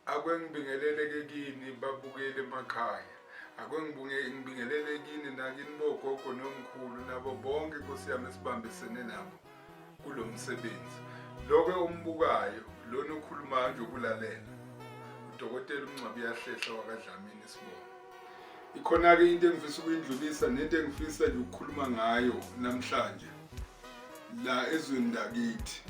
Ake ngibingelele ke kini babukeli emakhaya. Ake ngibingelele kini nakini bogogo nomkhulu nabo bonke Nkosi yami esibambisene nabo kulo msebenzi. Loke ombukayo lona okhulumayo nje ukulalela. Udokotela uMngcwabi yahlehla wakaDlamini isibongo. Ikhona-ke into engifisa ukuyindlulisa nento engifisa nje ukukhuluma ngayo namhlanje la ezweni lakithi.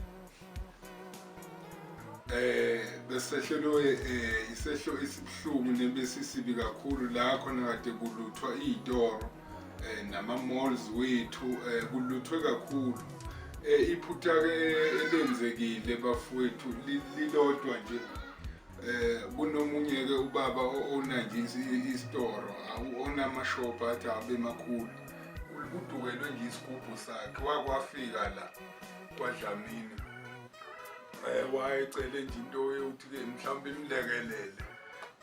eh besehlelwe eh, isehlo esibuhlungu nebesisibi kakhulu la khona kade kuluthwa iy'toro eh, nama-malls wethu eh, kuluthwe kakhulu eh, iphutha-ke elenzekile bafowethu lilodwa nje eh kunomunye ke ubaba owona nje isitoro awona amashop athi abe makhulu udukelwe nje isigubhu sakhe wakwafika la kwadlamini eh, wayecele nje into yokuthi-ke mhlawumbe imlekelele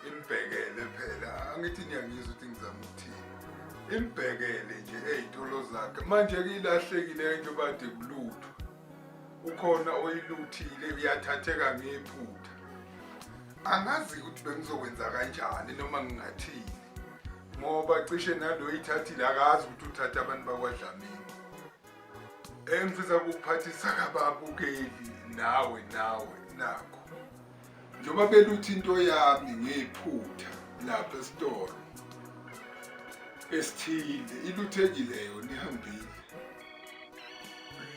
imbhekele phela angithi niyangizwa ukuthi ngizama ukuthini imbhekele nje ey'tolo zakhe manje-ke ilahlekile into bade kulutho ukhona oyiluthile uyathatheka ngephutha angazi ukuthi bengizokwenza kanjani noma ngingathini ngoba cishe nalo ithathile akazi ukuthi uthatha abantu bakwadlamini engifisa ukuphathisa kababukeli nawe nawe nakho njengoba beluthi into yami ngiyiphutha lapha esitolo esithile iluthekile yona ihambile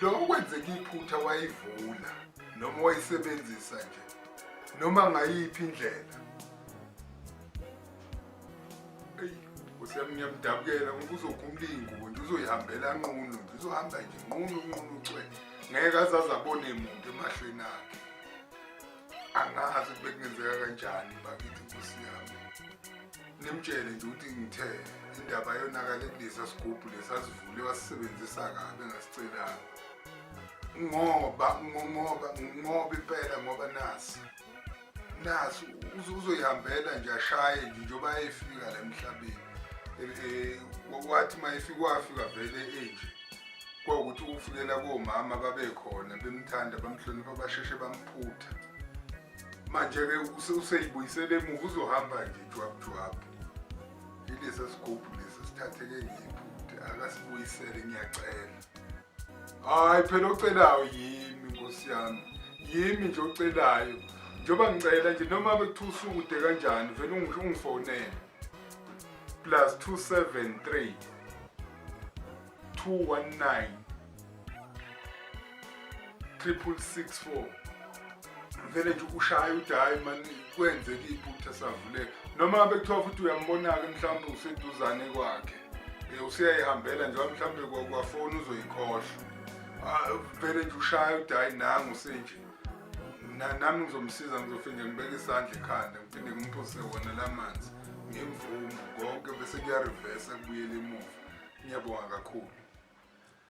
lo okwenzeka iphutha wayivula noma wayisebenzisa nje noma ngayiphi indlela eyi nkosi yami ngiyamdabukela ngoba uzokhumlingo nje uzoyihambela nqunu nje uzohamba nje nqunu nqunu cwe ngeke azaze abone muntu emahlweni akhe angazi kube kungenzeka kanjani bakithi nkosi yami nimtshele nje ukuthi ngithe indaba yonakale kulesa sigubhu lesasivule wasisebenzisa kabi engasicelanga ngoba ngoba ngoba impela ngoba nasi naso uzoyihambela nje ashaye nje njengoba efika la emhlabeni eh, wathi uma efika wafika vele enje kwawukuthi ukufikela komama babekhona bemthanda bamhlonipha basheshe bamphutha manje-ke useyibuyisele emuva uzohamba nje jwabujwabu ilesi sigubhu lesi sithatheke ngiphuthe akasibuyisele ngiyacela hayi phela ocelayo yimi nkosi yami yimi nje ocelayo njengoba ngicela nje noma bekuthiwa usukude kanjani vele ungi- ungifonele plus 273 219 triple six four vele nje ukushaye ukuthi hhayi mani kwenzeka iphutha savuleka noma ngabe kuthiwa futhi uyambona-ke mhlawumbe useduzane kwakhe um useyayihambela njengoba mhlawumbe kwafoni uzoyikhohlwa ah, vele nje ushaye ukuthi hhayi nangu senje nami ngizomsiza ngizofinde ngibeke isandla ekhanda ngiphinde ngimphose wona la manzi ngimvumo konke bese kuyarivesa kubuyela emuva ngiyabonga kakhulu